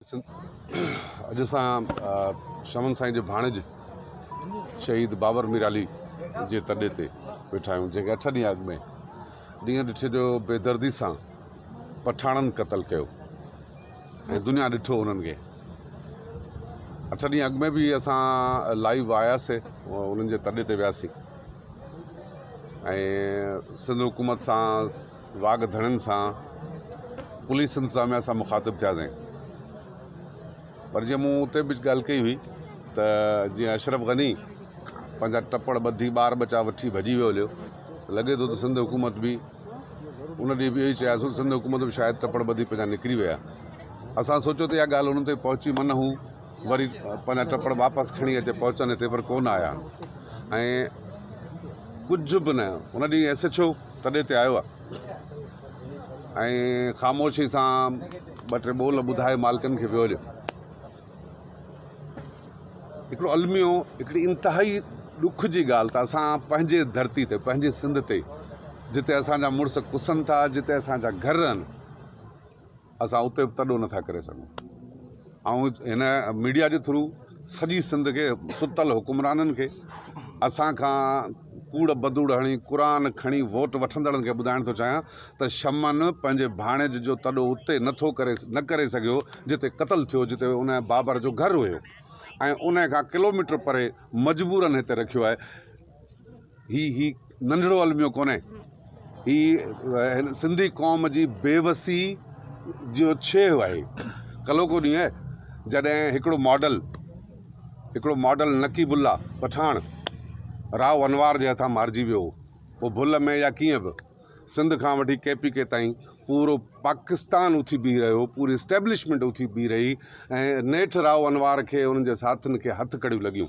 اڄ اسان شمن سائين جي ڀاڻيج شهيد بابر ميرعلي جي تڏي تي ويٺا آهيون جنهن کي اٺ ڏينهن اڳ ۾ ڏينهن ڏٺي جو بيدردي سان پٺاڻن قتل ڪيو ۽ دنيا ڏٺو انهن کي اٺ ڏينهن اڳ ۾ به اسان لائيو آياسي انهن جي تڏي تي وياسي ۽ سنڌ حڪومت سان واڳ ڌڻين سان پوليس انتظاميا سان مخاطب ٿياسين پر جي مون اتي به ڳالهه ڪئي هئي ته جي اشرف غني پنهنجا ٽپڙ ٻڌي ٻار ٻچا وٺي ڀڄي ويو هليو لڳي ٿو ته سنڌ حڪومت به ان ڏينهن به اهي چياسون سنڌ حڪومت به شايد ٽپڙ ٻڌي پنهنجا نڪري ويا اسان سوچيو ته اها ڳالهه انهن تائين پهچي من هو وري پنهنجا ٽپڙ واپس کڻي اچي پهچن هتي پر ڪونه آيا ۽ ڪجهه به نه ان ڏينهن ايس ايڇ او تڏي تي آيو آ ۽ خاموشي سان ٻه ٽي ٻول ٻڌائي مالڪن کي ويو هليو. هڪڙو الميو هڪڙي انتهائي ڏک جي ڳالهه ته اسان پنهنجي ڌرتي تي پنهنجي سنڌ تي جتي اسان جا مڙس ڪسن ٿا جتي اسان جا گهر رهن اسان اتي به تڏو نٿا ڪري سگهون. آئون هن ميڊيا جي ٿرو سڄي سنڌ کي ستل حڪمرانن کي اسان کان ڪوڙ بدوڙ هڻي قرآن کڻي ووٽ وٺندڙن کي ٻڌائڻ ٿو چاهيان ته شمن پنهنجي ڀاڻيج جو تڏو اتي نٿو ڪري نه ڪري سگهيو جتي قتل ٿيو جتي ان بابر جو گهر هيو ۽ ان کان ڪلوميٽر پري مجبورن هتي رکيو آهي. هي هي ننڍڙو الميو ڪونهي. هي هن سنڌي قوم جي بيوسي جو ڇيهه آهي. ڪلهو ڪو ڏينهن آهي جڏهن هڪڙو ماڊل هڪڙو ماڊل نقيب الله پٺاڻ راء انوار جي هٿان مارجي ويو هو. هو ڀل ۾ يا ڪيئن به سنڌ کان وٺي ڪي پي ڪي تائين پورو پاڪستان اٿي بيهي رهيو هو. پوري اسٽيبلشمينٽ اٿي بيهي رهي ۽ نيٺ راء انوار کي انهن جي ساٿين کي هٿ ڪڙيون لڳيون.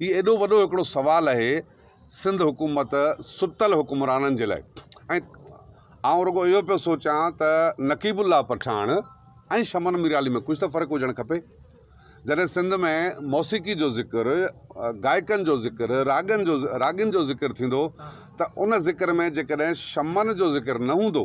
هي ايڏو وڏو هڪڙو سوال اهي سنڌ حڪومت ستل حڪمرانن جي لاء ۽ آئون رڳو اهو پيو سوچان ته نقيب الله پٺاڻ ۽ شمن ميرالي ۾ ڪجهه ته فرق هجڻ کپي جڏهن سنڌ ۾ موسيقي جو ذڪر گائڪن جو ذڪر راڳن جو راڳين جو ذڪر ٿيندو ته ان ذڪر ۾ جيڪڏهن شمن جو ذڪر نه هوندو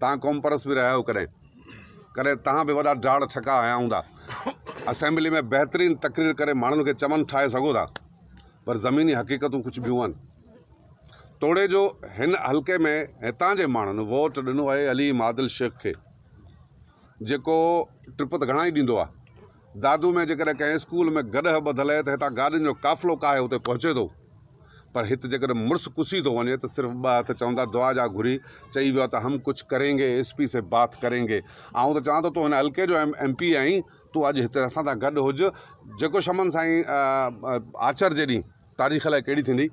تهان قومپرست به رهيا آهيو ڪڏهن ڪڏهن تهان به وڏا ڊاڙ ٺڪا هنيا هوندا اسيمبلي ۾ بهترين تقرير ڪري ماڻهن کي چمن ٺاهي سگهو ٿا پر زميني حقيقتون ڪجهه ٻيون آهن توڙي جو هن حلقي ۾ هتان جي ماڻهن ووٽ ڏنو آهي عليم عادل شيخ کي جيڪو ٽپ ته گهڻا ئي ڏيندو آهي دادو ۾ جيڪڏهن ڪنهن اسڪول ۾ گڏهه ٻڌل اهي ته هتان گاڏين جو قافلو ڪاهي اتي پهچي ٿو پر هت جيڪڏهن مڙس ڪسي ٿو وڃي ته صرف ٻه هٿ چوندا دعا جا گهري چئي ويو آهي ته هم ڪچھ ڪرينگي ايس پي سي بات ڪرينگي آئون ته چوان ٿو تون هن حلقي جو ايم پي آهين تون اڄ هتي اسان سان گڏ هج جيڪو شمن سائين آچر جي ڏينهن تاريخ الائي ڪهڙي ٿيندي.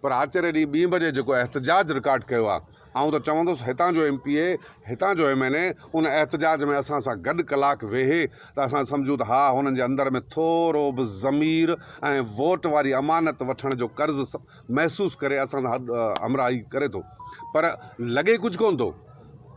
پر آچري ڏينهن ٻي بجي جيڪو احتجاج رڪارڊ ڪيو آهي آئون ته چوندس هتان جو ايم پي اي هتان جو ايم اين اي ان احتجاج ۾ اسان سان گڏ ڪلاڪ ويهي ته اسان سمجهون ته ها هنن جي اندر ۾ ٿورو به ضمير ۽ ووٽ واري امانت وٺڻ جو قرض محسوس ڪري اسان سان همراهي ڪري ٿو پر لڳي ڪجهه ڪونه ٿو.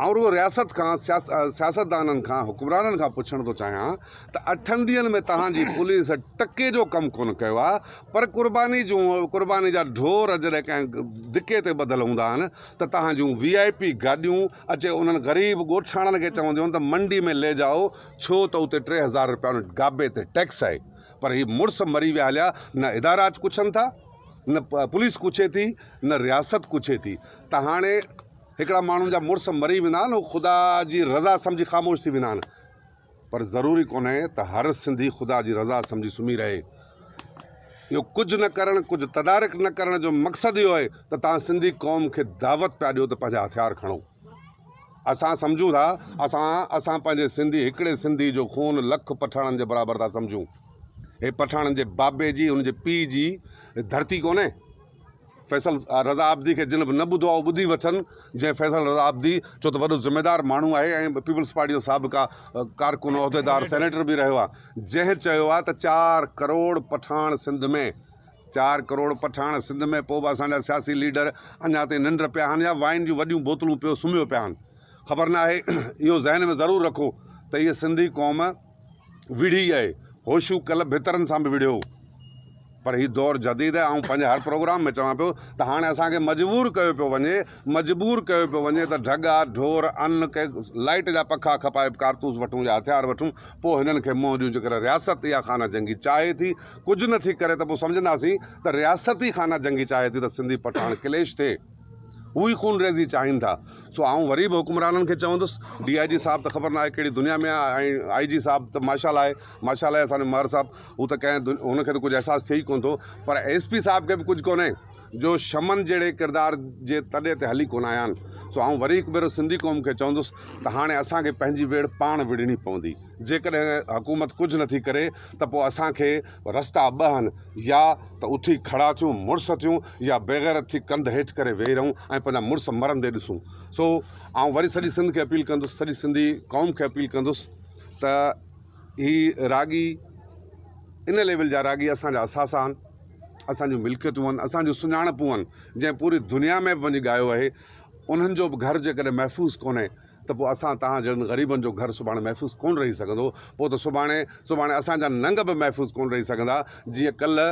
آئون رڳو رياست کان سياستدانن کان حڪمرانن کان پڇڻ ٿو چاهيان ته اٺن ڏينهن ۾ توهان جي پوليس ٽڪي جو ڪم ڪونه ڪيو آهي پر قرباني جون قرباني جا ڍور جڏهن ڪنهن ڌڪي تي ٻڌل هوندا آهن ته توهان جون وي آء پي گاڏيون اچي انهن غريب ڳوٺاڻن کي چونديون آهن ته منڊي ۾ لي جائو ڇو ته اتي ٽي هزار روپيا ان گابي تي ٽيڪس آهي پر هي مڙس مري ويا هليا نه ادارا اچ پڇن ٿا نه پوليس پڇي ٿي نه رياست پڇي ٿي ته هاڻي هڪڙا ماڻهن جا مڙس مري ويندا آهن هو خدا جي رضا سمجهي خاموش ٿي ويندا آهن پر ضروري ڪونهي ته هر سنڌي خدا جي رضا سمجهي سمهي رهي اهو ڪجهه نه ڪرڻ ڪجهه تدارڪ نه ڪرڻ جو مقصد اهو آهي ته توهان سنڌي قوم کي دعوت پيا ڏيو ته پنهنجا هٿيار کڻو اسان سمجهون ٿا اسان اسان پنهنجي سنڌي هڪڙي سنڌي جو خون لک پٺاڻن جي برابر ٿا سمجهون هي پٺاڻن جي بابي جي ان جي پيء جي ڌرتي ڪونهي فيصل رضا عابدي کي جن به نه ٻڌو آهي اهو ٻڌي وٺن جنهن فيصل رضا عابدي ڇو ته وڏو ذميدار ماڻهو آهي ۽ پيپلز پارٽي جو سابقا ڪارڪن عهديدار سينيٽر به رهيو آهي جنهن چيو آهي ته چار ڪروڙ پٺاڻ سنڌ ۾ چار ڪروڙ پٺاڻ سنڌ ۾ پوء به اسان جا سياسي ليڊر اڃا تائين ننڊ پيا آهن يا وائن جون وڏيون بوتلون پيو سمهيو پيا آهن خبر ناهي اهو ذهن ۾ ضرور رکو ته هيء سنڌي قوم وڙهي اهي هوشون ڪل ڀترن سان به وڙهيو پر هي دور جديد آهي آئون پنهنجي هر پروگرام ۾ چوان پيو ته هاڻي اسان کي مجبور ڪيو پيو وڃي مجبور ڪيو پيو وڃي ته ڍڳا ڍور ان کي لائيٽ جا پکا کپائي ڪارتوس وٺون يا هٿيار وٺون پوء هنن کي منهن ڏيون جيڪڏهن رياست يا خانه جنگي چاهي ٿي ڪجهه نه ٿي ڪري ته پوء سمجهنداسين ته رياست ئي خانه جنگي چاهي ٿي ته سنڌي پٺاڻ ڪليش ٿئي هو ئي خون ريزي چاهين ٿا. سو آئون وري به حڪمرانن کي چوندس، ڊي آء جي صاحب ته خبر ناهي ڪهڙي دنيا ۾ آهي ۽ آء جي صاحب ته ماشاء الله آهي، ماشاء الله آهي اسان جو مهر صاحب، هو ته ڪنهن دنيا هن کي ته ڪجهه احساس ٿئي ئي ڪونه ٿو، پر ايس پي صاحب کي به ڪجهه ڪونهي جو شمن جهڙي ڪردار جي تڏي تي هلي ڪونه آيا آهن. سو آئون وري هڪ ڀيرو سنڌي قوم کي چوندس ته هاڻي اسان کي پنهنجي ويڙهه پاڻ وڙهڻي پوندي. جيڪڏهن حڪومت ڪجهه نٿي ڪري ته پوء اسان کي رستا ٻه آهن، يا ته اٿي کڙا ٿيون، مڙس ٿيون، يا بيغيرت ٿي ڪنڌ هيٺ ڪري ويهي رهون ۽ پنهنجا مڙس مرندي ڏسون. سو آئون وري سڄي سنڌ کي اپيل ڪندس، سڄي سنڌي قوم کي اپيل ڪندس ته هي راڳي ان ليول جا راڳي اسان جا اثاثا آهن، اسان جون ملڪيتون آهن، اسان جون سڃاڻپون آهن، جنهن پوري دنيا ۾ به وڃي ڳايو آهي، انهن جو به گهر جيڪڏهن محفوظ ڪونهي، ته پوء اسان توهان جهڙن غريبن جو گهر سڀاڻي محفوظ ڪونه رهي سگهندو. پوء ته سڀاڻي سڀاڻي اسان جا ننگ به محفوظ ڪونه رهي سگهندا. جيئن ڪلهه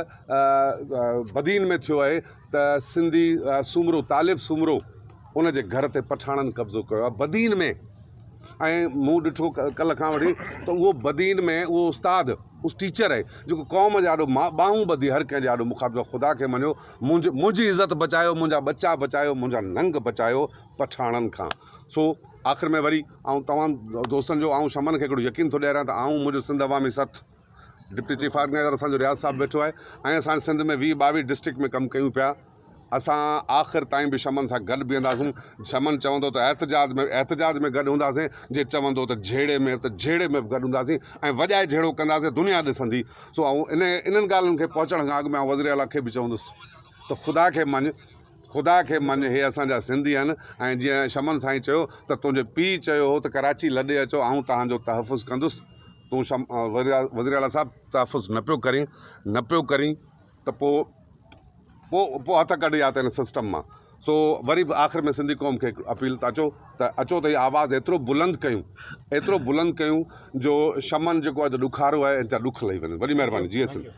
بدين ۾ ٿيو آهي ته سنڌي سومرو طالب سومرو ان جي گهر تي پٺاڻن قبضو ڪيو آهي بدين ۾ ۽ مون ڏٺو ڪلهه کان وٺي ته اهو بدين ۾ اهو استاد اهو ٽيچر آهي جيڪو قوم جي آڏو ٻانهون ٻڌي هر ڪنهن جي آڏو مخاطب آهي خدا کي مڃيو منهنجي منهنجي عزت بچايو منهنجا ٻچا بچايو منهنجا ننگ بچايو پٺاڻن کان. سو آخر ۾ وري آئون تمام دوستن جو آئون شمن کي هڪڙو يقين ٿو ڏياريان ته آئون منهنجو Sindh Awami Sath deputy chief organiser اسان جو رياض صاحب ويٺو آهي ۽ اسان سنڌ ۾ ويهه ٻاويهه ڊسٽرڪٽ ۾ ڪم ڪيون پيا اسان آخر تائين به شمن سان گڏ بيهنداسون شمن چوندو ته احتجاج ۾ احتجاج ۾ گڏ هونداسين جي چوندو ته جهيڙي ۾ ته جهيڙي ۾ به گڏ هونداسين ۽ وڄائي جهيڙو ڪنداسين دنيا ڏسندي سو آئون ان انهن ڳالهين کي پهچڻ کان اڳ ۾ آئون وزيراعليٰ کي به چوندس ته خدا کي مڃ خدا کي مڃ هي اسان جا سنڌي هن ۽ جيئن شمن سائين چيو ته تنهنجي پيء چيو هو ته ڪراچي لڏي اچو آئون توهان جو تحفظ ڪندس تون شم وزير اعليٰ صاحب تحفظ نه پيو ڪرين نه پيو ڪرين ته پو پو پو هٿ ڪڍ يا ته هن سسٽم مان سو وري به آخر ۾ سنڌي قوم کي اپيل ته اچو ته اچو ته هي آواز ايترو بلند ڪيون ايترو بلند ڪيون جو شمن جيڪو اڄ ڏکارو آهي ان جا ڏک لهي وڃن وڏي مهرباني جي سنڌ